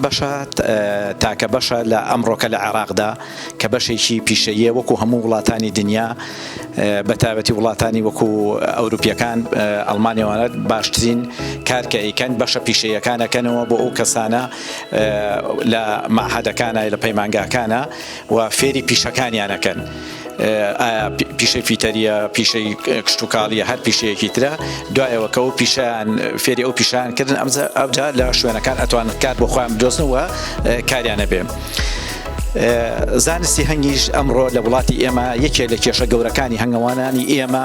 ئەم بەشە تاکە بەشە لە ئەمڕۆکە لە عێراقدا کە بەشێکی پیشەیە وەکو هەموو وڵاتانی دنیا بە تایبەتی وڵاتانی وەکو ئەوروپیەکان ئەلمانیوانەت باشترین کارکە ئەیکەن بەشە پیشەیەکانەکەنەوە بۆ ئەو کەسانە لە مەعهەدەکانە لە پەیمانگاکانە و فێری پیشەکانیان ئەکەن ئایا پیشەی فیتەریە پیشەی کشتتوکاڵیە هەر پیشەیەکی ترە دوایەوە کە ئەو پیشیان فێری ئەو پیشان کردن ئەمزە ئەوجا لە شوێنەکان ئەتوان کار بۆ خۆیان بدۆزنەوە کاریانە بێ. زانستی هەنگیش ئەمڕۆ لە وڵاتی ئێمە یەکێ لە کێشە گەورەکانی هەنگەوانانی ئێمە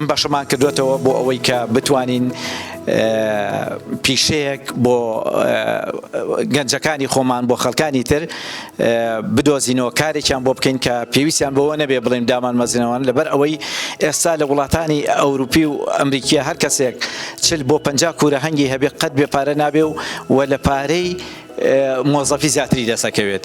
بەشمان کردووەتەوە بۆ ئەوەی کە بتوانین پیشەیەک بۆ گەنجەکانی خۆمان بۆ خەڵکانی تر بدۆزینەوە کارێکیان بۆ بکەین کە پێویستیان بەوە نەبێ بڵێن دامان مەزنەوەن لەبەر ئەوەی ئێستا لە وڵاتانی ئەوروپی و ئەمریکیە هەر کەسێک چل بۆ پ کورە هەنگی هەبێ قەت بێ پارە نابێ و وە لە پارەی مۆزەفی زیاتری دەسەکەوێت.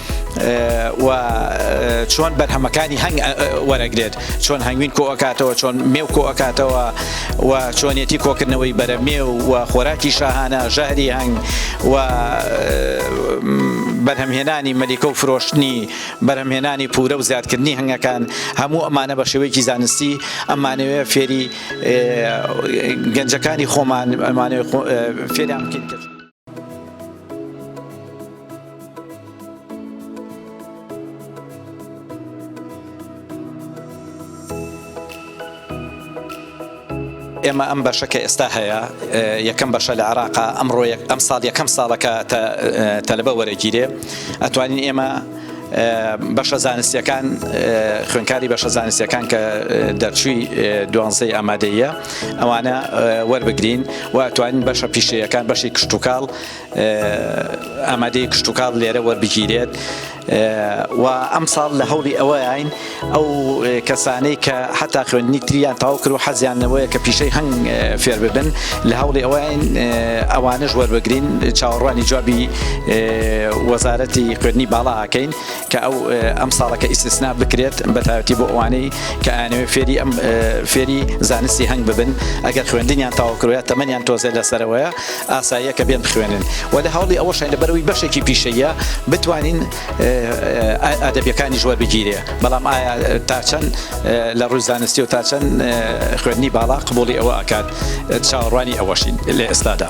و چۆن بەرهەمەکانی هەنگ وەرەگرێت چۆن هەنگوین کۆکاتەوە چۆن مێو کۆکاتەوە و چۆنیەتی کۆکردنەوەی بەرە مێ و خۆراکی شاهانە ژەهری هەنگ و بەرهەمهێنانی مەلیکە و فرۆشتنی بەرهەمهێنانی پورە و زیادکردنی هەنگەکان هەموو ئەمانە بە شێوەیەکی زانستی ئەمانەوەێ فێری گەنجەکانی خۆمان ئەمانێ فێران بکەین. ئێمە ئەم بەشە کە ئێستا هەیە یەکەم بەشە لە عراقا ئەمڕۆ ئەم ساڵ یەکەم ساڵەکە تەلبە وەرەگیرێ ئەتوانین ئێمە بەشە زانستیەکان خوێنکاری بەشە زانستیەکان کە دەرچووی دوانزەی ئامادەیە ئەوانە وەربگرین و توانین بەشە پیشەیەکان بەشی کشتتوکاڵ ئامادەی کشتتوکاڵ لێرە وەربگیرێت و ئەم ساڵ لە هەوڵی ئەوەین ئەو کەسانەی کە حەتا خوێندنی تریان تەواو کرد و حەزیان لەوەیە کە پیشەی هەنگ فێر ببن لە هەوڵی ئەوەین ئەوانەش وەربگرین چاوەڕوانی جوابی وەزارەتی خوێندنی باڵا ئەکەین کە ئەو ئەم ساڵەکە ئیسسنا بکرێت بە تایبەتی بۆ ئەوانەی کە ئەیانەوێت فێری ئەم فێری زانستی هەنگ ببن ئەگەر خوێندنیان تەواو کردوە تەمەنیان تۆزێ لەسەرەوەیە ئاساییە کە بێن بخوێنن و لە هەوڵی ئەوەشین لەبەرەوەی بەشێکی پیشەیە بتوانین ئەدەبیەکانیش وەربگیرێ بەڵام ئایا تاچەند لە ڕووی زانستی و تاچەند خوێندنی باڵا قبوڵی ئەوە ئەکات چاوەڕوانی ئەوەشین لە ئێستادا.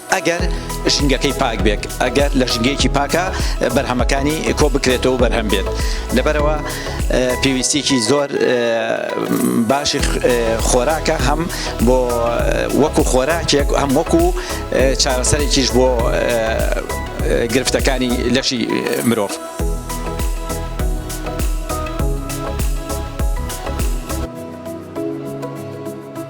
ئەگەر ژینگەکەی پاک بێت، ئەگەر لە ژینگەیەکی پاکە بەرهەمەکانی کۆ بکرێتەوە و بەرهەم بێت، لەبەرئەوە پێویستیەکی زۆر باشی خۆراکە هەم بۆ وەکو خۆراکێک هەم وەکو چارەسەرێکیش بۆ گرفتەکانی لەشی مرۆڤ.